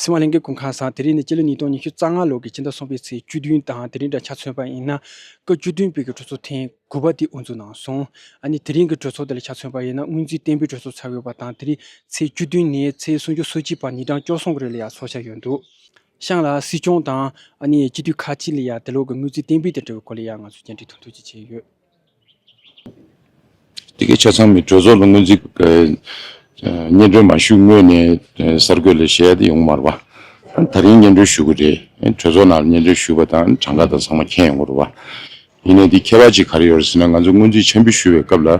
སྲིད་དབང་གླིང་གའི་གུང་ཁང་སང་དེ་རིང་ནི་སྤྱི་ལོ་ཉིས་སྟོང་ཉི་ཤུ་རྩ་ལྔ་ལོ་གི་ཕྱི་ཟླ་གསུམ་པའི་ཚེས་བཅུ་བདུན་དང་དེ་རིང་འདྲ་ཆགས་མཚོན་པ་ཡིན་ན། སྐབས་བཅུ་བདུན་པའི་གི་གྲོས་ཚོགས་ཐེངས་དགུ་པ་དེ་དབུ་འཛུགས་གནང་སོང། ཨ་ནི་དེ་རིང་གི་གྲོས་ཚོགས་དེ་ལ་ཆགས་མཚོན་པ་ཡིན་ན་སྔོན་རྩིས་བརྟན་པོའི་གྲོས་ཚོགས་ཚར་ཡོད་པ་དང་དེ་རིང་ཚེས་བཅུ་བདུན་ནས་ཚེས་སུམ་ཅུ་སོ་གཅིག་བར་ཉིན་གྲངས་བཅོ་སོང་གི་རིང་ལ་ཡང་ཚོགས་འཆར་ཡོད་འདུག་ཤང་ལ་སྲིད་སྐྱོང་དང་ཨ་ནི་སྤྱི་འཐུས་ཁག་ཅིག་ལ་ཡང་དེ་ལོག་གི་སྔོན་རྩིས་བརྟན་པོའི་དེ་འབྲེལ་བའི་སྐོར་ལ་ཡང་ང་ཚོས་མཇལ་འཕྲད་ཐུག་འཐུས་ཀྱིས་བྱས་ཡོད། དེ་གའི་ཆ་ཚང་མས་གྲོས་ཚོགས་ལ་སྔོན་རྩིས་སྙན་སྒྲོན་མ་ཞུས་སྔོན་ནས་གསར་འགོད་ལས་བྱེད་ཡོང་མ་རུང་བ། ད་རིང་སྙན་སྒྲོན་ཞུ་གི་རེད། གྲོས་ཚོགས་ནང་ལ་སྙན་སྒྲོན་ཞུས་པ་དང་གྲངས་ཀ་དང་ཚང་མ་མཁྱེན་ཡོང་གི་རུང་བ། ཡིན་ནའི་དེའི་ཁྱད་པར་ཅིག་ག་རེ་ཡོད་རེད་ཟེར་ན་ང་ཚོས་སྔོན་རྩིས་འཆར་འབུལ་ཞུས་པའི་སྐབས་ལ།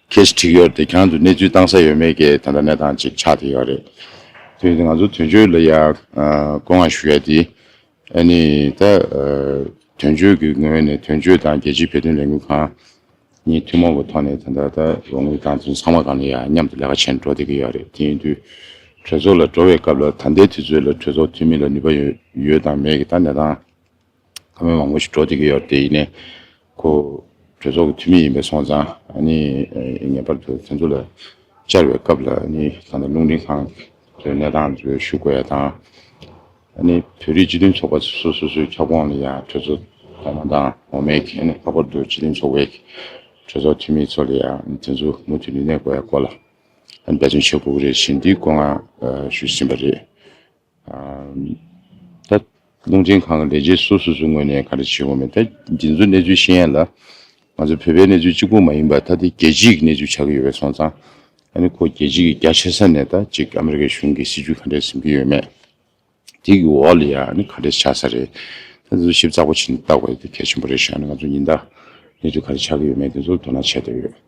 ཁྱེད་ཀྱི་འཁྲིག་ཡོར་དེ་གང་དུ་གནས་ཚུལ་བཏང་ས་ཡོད་མེད་ཀྱི་དོན་དང་གནས་སྟངས་ཅིག་ཆགས་བསྡད་ཡོད་རེད། དེ་ཡིན་ན་ང་ཚོ་དོན་གཅོད་ལ་ཡང་བསྐོ་བསྔགས་ཞུ་ཡ་དེ། ཨ་ནི་ད་དོན་གཅོད་ཀྱི་ངོས་ནས་དོན་གཅོད་དང་རྒྱལ་སྤྱིའི་བོད་དོན་ལས་འགུལ་ཁང་གཉིས་ཐུན་མོང་གི་ཐོག་ནས་ད་ལྟ་ལོ་ངོ་གང་བརྩི་ཚང་མ་གང་ལ་ཡང་མཉམ་དུ་ལས་ཀ་བྱས་ནས་འགྲོ་བསྡད་ཀྱི་ཡོད་རེད་དེ་ཡིན་དུས་གྲོས་ཚོགས་ལ་འགྲོ་བའི་སྐབས་ལ་ད་ལྟའི་དུས་ཚོད་ལ་གྲོས་ཚོགས་འཐུས་མི་ལ་ནུས་པ་ཡོད་དང་མེད་ཀྱི་ད་གནས་སྟངས། ཁ་མོན་མང་པོ་ཞིག་འགྲོ་བསྡད་ཀྱི་ཡོད་དེ་ཡིན་ནའི། ཁོ་གྲོས་ཚོགས་ཀྱི་འཐུས་མི་ཡིན་པའི་སོང་ཙང། ངེས་པར་དུ་དེ་ཚོ་ལ་བཅར་བའི་སྐབས་ལ་ད་ལྟ་རླུང་འཕྲིན་ཁང་གི་གནས་སྟངས་ཚོའི་ཞུ་དགོས་ཡ་དང། བོད་རིགས་སྤྱི་མཐུན་ཚོགས་པ་སོ་སོའི་ཁྱབ་ཁོངས་ལ་ཡང་གྲོས་ཚོགས་ཚོགས་མ་དང་འོ་མའི་མཁན་ནས་ལྷག་པར་དུ་སྤྱི་མཐུན་ཚོགས་པའི་གྲོས་ཚོགས་འཐུས་མི་ཚོ་ལ་ཡང་དེ་ཚོ་མུ་མཐུད་རིག་གནས་དགོས་ཡ་སྐོར་ལ་འབད་བརྩོན་བྱེད་དགོས་ཀྱི་རེད་བཞིན་འདི་སྐོར་ངང་ཞུས་ཟིན་པ་རེད། ད། རླུང་འཕྲིན་ཁང་གི་ལས་བྱེད་སོ་སོ་སོའི་ངོས་ནས་ག་རེ་བྱེད་དགོས་མེད་ད་འདི་ཚོ་གནས་ཚུལ་ཤེས་ཡན་ལ། ང་ཚོ་བོད་པའི་གནས་ཚུལ་གཅིག་པུ་མ་ཡིན་པར་ད་འདི་རྒྱལ་སྤྱིའི་གནས་ཚུལ་ཆགས་ཀྱི་ཡོད་པས་སོང་ཙང། ཨ་ནི་ཁོ་རྒྱལ་སྤྱི་གི་རྒྱ་ཆེ་ས་ནས་ད་ཅིག་ཨ་མི་རི་ཀའི་གཞུང་གི་སྲིད་བྱུས་ག་འདྲས་ཟིན་གྱི་ཡོད་མེད། འདི་གི་འོག་ལ་ཡང་ཨ་ནི་ག་འདྲས་ཆགས་ས་རེད་ད་འདི་ཚོ་ཞིབ་ཚགས་པོ་བྱེད་ནས་བལྟ་དགོས་ཡོད་འདི་གལ་ཆེན་པོ་རེད་ཤག་ཨ་ནི་ང་ཚོ་ཉིན་ལྟར་གནས་ཚུལ་ག་རེ་ཆགས་ཀྱི་ཡོད་མེད་འདི་ཚོ་དོ་སྣང་བྱས་བསྡད་ཡོད།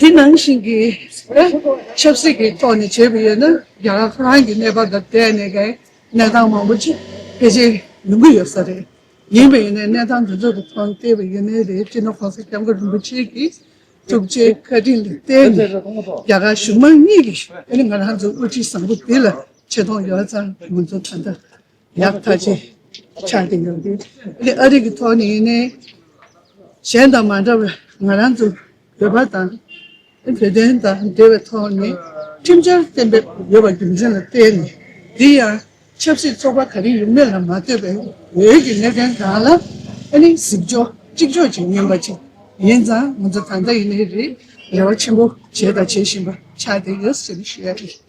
དེ་ནང་བཞིན་གྱི་ཆབ་སྲིད་ཀྱི་ཐོག་ནས་བྱེད་དགོས་ཡོད་ན་རྒྱ་གར་ཁོ་རང་གི་གནས་བབ་དང་འབྲེལ་ནས་ཀྱང་གནས་སྟངས་མང་པོ་ཅི་ཕལ་ཆེར་ཡོང་གི་ཡོད་ས་རེད། ཡིན་པ་ཡིན་ན་གནས་སྟངས་འདི་ཚོ་རུ་ཐོན་བལྟས་པ་ཡིན་ནའི་རེད་སྤྱིར་ན་ཁོང་ས་སྐྱབས་མགོན་རིན་པོ་ཆེ་གྱི་ཐུགས་རྗེའི་བཀའ་དྲིན་ལ་བརྟེན་ནས་རྒྱ་གར་གཞུང་མང་གཉིས་ཀྱིས་ང་རང་ཚོའི་དབུ་ཁྲིད་བཟང་པོ་འདི་ལ་ཆེ་མཐོང་ཡོད་ཙང་ང་ཚོ་ད་ལྟ་ཡང་དག་ཅིག་ཆགས་ཀྱི་ཡོད་དེ། འདི་ཨ་རིག་གི་ཐོག་ནས་ཡིན་ནའི། གཞན་དང་མ་འདྲ་བའི་ང་རང་ཚོ་བོད་པ་དང། བོད་དོན་དང་འབྲེལ་བའི་ཐོག་ནས་ཁྲིམས་འཆར་གཏན་འབེབས་ཡོད་པ་རྒྱུ་མཚན་ལ་བརྟེན་ནས་འདི་ཡང་ཆབ་སྲིད་ཚོགས་པ་ག་རེ་ཡོད་མེད་ལ་མ་ལྟོས་པའི་བོད་ཀྱི་གནད་དོན་དག་ལ་ཨ་ནི་གཟིགས་ཕྱོགས་གཅིག་ལྕོགས་ཅིག་ཡིན་པ་ཅིག་ཡིན་ཙང་ང་ཚོ་ད་ལྟ་ཡིན་ནའི་རེ་བ་ཆེན་པོ་བྱས་དང་བྱེད་བཞིན་པ་ཆགས་ཀྱི་ཡོད་ཟེར་བཞིན་ཡོད།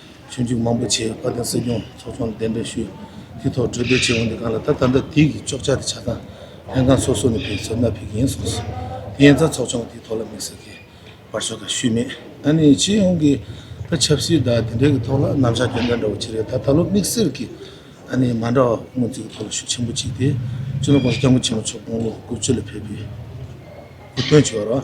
ཆོས་འཇུག་མང་པོ་བྱས་བཀའ་དང་སྲིད་སྐྱོང་ཚོགས་ཆུང་ལ་གདན་འདྲེན་ཞུས། དེའི་ཐོག་གྲོས་བསྡུར་བྱས་འོང་དེ་གང་ལ་ད་ད་ལྟ་དུས་ཀྱི་ལྕོགས་བྱ་དེ་ཆགས་སྟངས་ལྷན་ཁང་སོ་སོ་ནས་ཕེབས་ཚུལ་མནའ་ཕེབས་ཀྱི་ཡིན་གསུངས་སོང། དེ་ཡན་ཚང་ཚོགས་ཆུང་གི་དེའི་ཐོག་ལ་དམིགས་བསལ་གྱི་བར་ཆོད་ཁག་ཞུས་མེད། ད་ནི་སྤྱི་ཡོངས་ཀྱི་ད་ཆབ་སྲིད་དང་དེ་འབྲེལ་གྱི་ཐོག་ལ་རྣམ་བཞག་དེ་འདྲ་འདྲ་བོ་བྱས་རེད་ད་ད་ལོ་དམིགས་བསལ་གྱི་ད་ནི་མ་འདྲ་བ་སྔོན་རྩིས་ཀྱི་ཐོག་ལ་ཤུགས་ཆེན་པོ་བྱས་ཏེ་ཅུ་ནོར་ཀོང་ས་སྐྱབས་མགོན་ཆེན་མོ་མཆོག་དགུང་ལོ་དགུ་བཅུ་ལ་ཕེབས་པའི་དགོངས་དོན་བྱས་པ་རེད།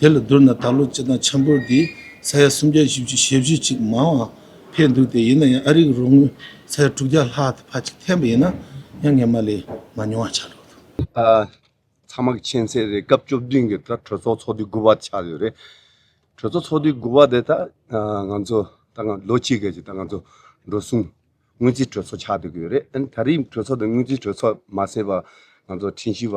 དེ་ལ་བསྡུར་ན་ད་ལོ་སྤྱི་བཏང་ཆབ་འབོར་འདི་ས་ཡ་སུམ་བརྒྱ་བཞི་བཅུ་ཞེ་བཞི་ཅིག་མང་བ་འཕེལ་འདུག་སྟེ་ཡིན་ན་ཡང་ཨ་རིག་རོགས་དངུལ་ས་ཡ་དྲུག་བརྒྱ་ལྷག་དེ་ཕ་གཅིག་འཐེན་པ་ཡིན་ན་ཡང་ངེས་མ་ལས་མ་ཉུང་བ་ཆགས་འགྲོ་འདུག། ཚང་མ་མཁྱེན་གསལ་རེད་སྐབས་བཅུ་བདུན་གྱི་ད་གྲོས་ཚོགས་ཚོགས་དུས་དགུ་བ་ཆགས་ཡོད་རེད། གྲོས་ཚོགས་ཚོགས་དུས་དགུ་བ་དེ་ད་ང་ཚོ་ད་ང་ལོ་གཅིག་གི་ད་ང་ཚོ་འགྲོ་སོང་སྔོན་རྩིས་གྲོས་ཚོགས་ཆགས་འདུག་ཡོད་རེད་ཨ་ནི་ད་རིང་གྲོས་ཚོགས་དེ་སྔོན་རྩིས་གྲོས་ཚོགས་མ་ཟེར་བར་ང་ཚོ་ཁྲིན་ཤི་བ།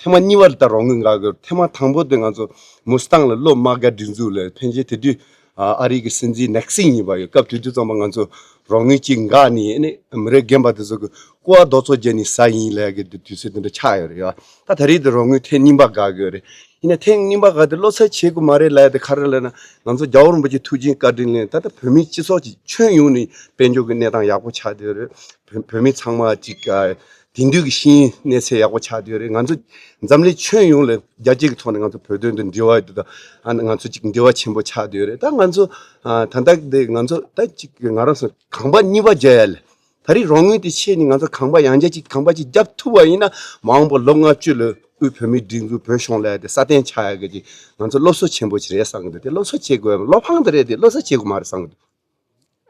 ཐེངས་མ་གཉིས་པར་ད་རོང་གི་འགག་དགོས་ཐེངས་མ་དང་པོ་དེ་ང་ཚོ་མུ་སི་ཐང་ལ་སློབ་མ་འགའ་སྒྲིག་འཛུགས་ལ་ཕན་ཆེད་དེ་དུས་ཨ་རིག་གི་སྲིད་འཛིན་ནེག་སིང་ཡིན་པ་ཡོད་སྐབས་དུས་དུས་ཙམ་པ་ང་ཚོ་རོང་ནུས་གཅིག་འགག་ནི་ཨ་ནི་མི་རེ་རྒན་པ་དེ་ཚོ་གི་ཀུ་བ་རྡོ་ཚོ་རྒྱལ་ནི་ས་ཡིན་ལས་གི་དུས་ཚོད་དེ་འདྲ་ཆགས་ཡོད་རེད་ད་ད་རེས་དེ་རོང་ནུས་ཐེངས་གཉིས་པ་འགག་དགོས་རེད་ཡིན་ན་ཐེངས་གཉིས་པ་འགག་དེ་བློ་ཚད་ཆེ་གི་མ་རེད་ལས་དེ་ཁ་རེ་ལས་ན་ང་ཚོ་རྒྱ་བོ་རིན་པོ་ཆེ་ཐུགས་བྱིན་བཀའ་དྲིན་ལས་ད་ལྟ་བོད་མི་སྤྱི་ཚོགས་ཀྱི་ཁྱོན་ཡོངས་ནི་དཔལ་འབྱོར་གི་གནས་སྟངས་ཡག་པོ་ཆགས་དེ་རེད་བོད་མི་ཚང་མ་གཅིག་དེང་དུས་ཀྱི་གཤིས་གནས་ཚད་ཡག་པོ་ཆགས་བསྡད་རེད་ང་ཚོ་འཛམ་གླིང་ཁྱོན་ཡོངས་ལ་རྒྱ་སྐྱེད་ཀྱི་ཐོག་ནས་ང་ཚོ་བོད་དོན་དུ་འབྲེལ་བ་དེ་དང་ང་ཚོ་གཅིག་འབྲེལ་བ་ཆེན་པོ་ཆགས་བསྡད་རེད་ད་ང་ཚོ་ད་ལྟ་དེ་ང་ཚོ་ད་གཅིག་གི་ང་རང་སོ་ཁང་པ་གཉིས་པ་རྒྱ་ཡལ་ད་རིང་རང་ངོས་དེ་ཆེད་ནས་ང་ཚོ་ཁང་པ་ཡང་རྒྱ་གཅིག་ཁང་པ་གཅིག་རྒྱབ་ཐུབ་པ་ཡིན་ན་མ་འོངས་པ་ལོ་ལྔ་བཅུ་ལ་དབུས་བོད་མིའི་སྒྲིག་འཛུགས་བོད་གཞུང་ལས་དེ་སྲ་བརྟན་ཆགས་ཡག་གི་ཅིག་ང་ཚོ་སློབ་གསོ་ཆེན་པོ་ཅིག་རེད་བསམ་གི་འདུག་དེ་སློབ་གསོ་བྱེད་དགོས་བ་བློ་ཕངས་དེ་རེད་དེ་སློབ་གསོ་བྱེད་དགོས་མ་རེད་བསམ་གི་འདུག།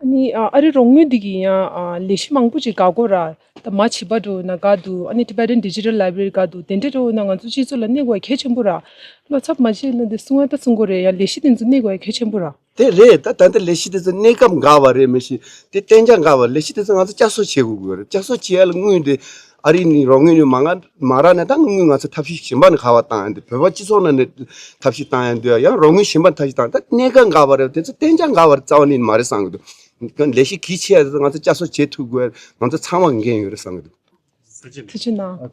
ཨ་རིའི་རོགས་དངུལ་འདི་གིས་ཡང་ལས་གཞི་མང་པོ་ཅིག་འགག་གོ། ར་ད་མ་བྱིས་པ་དྲོ་ན་དགའ་འདུག་ཨ་ནི Tibetan Digital Library དགའ་འདུག་དེ་འདྲ་དྲོ་ན་ང་ཚོ་སྤྱི་ཚོགས་ལ་གནད་འགོག་གལ་ཆེན་པོ། ར་བློ་འཚབ་མ་བྱེད་ན་འདི་སུ་ང་ད་སུ་འགོ་རེད་ཡང་ལས་གཞི་དེ་ཚོ་གནད་འགོག་གལ་ཆེན་པོ། ར། དེ་རེད་ད་ད་འདི་ལས་གཞི་དེ་ཚོ་གནས་སྐབས་འགག་བ་རེད་མི་ཤེས་དེ་གཏན་འཇགས་འགག་བ་ལས་གཞི་དེ་ཚོ་ང་ཚོ་བསྐྱར་གསོ་བྱེད་དགོས་གོ། ར་བསྐྱར་གསོ་བྱེད་ཡ་ལ་དངུལ་འདི་ཨ་རི་ནི་རོགས་དངུལ་ནི་མ་ང་མ་རག་ནས་ད་དངུལ་དངུལ་ང་ཚོ་ཐབས་ཤེས་གཞན་པ་ནི་ག་བ་བཏང་ཡང་འདུག་བོད་པ་སྤྱི་ཚོགས་ནང་ནས་ཐབས་ཤེས་བཏང་ཡང་འདུག་ཡང་རོགས་དངུལ་གཞན་པ་ཐབས་ཤེས་བཏང་ད་གནད་འགག་འགའ་བ་རེད་དེ་ཚོ་གཏན་འཇགས་འགའ་བ་རེད་རྩ་བ་ནས་མ་རེད་བསམ་གྱི་འདུག་ལས་གཞི་གལ་ཆེ་བ་དེ་ཚོ་ང་ཚོ་བསྐྱར་གསོ་བྱེད་ཐུབ་དགོས་ང་ཚོ་ཚང་བ་འགན་ཡོད་རེད་བསམ་གྱི་འདུག། ཚིག་ཆུ་ནང།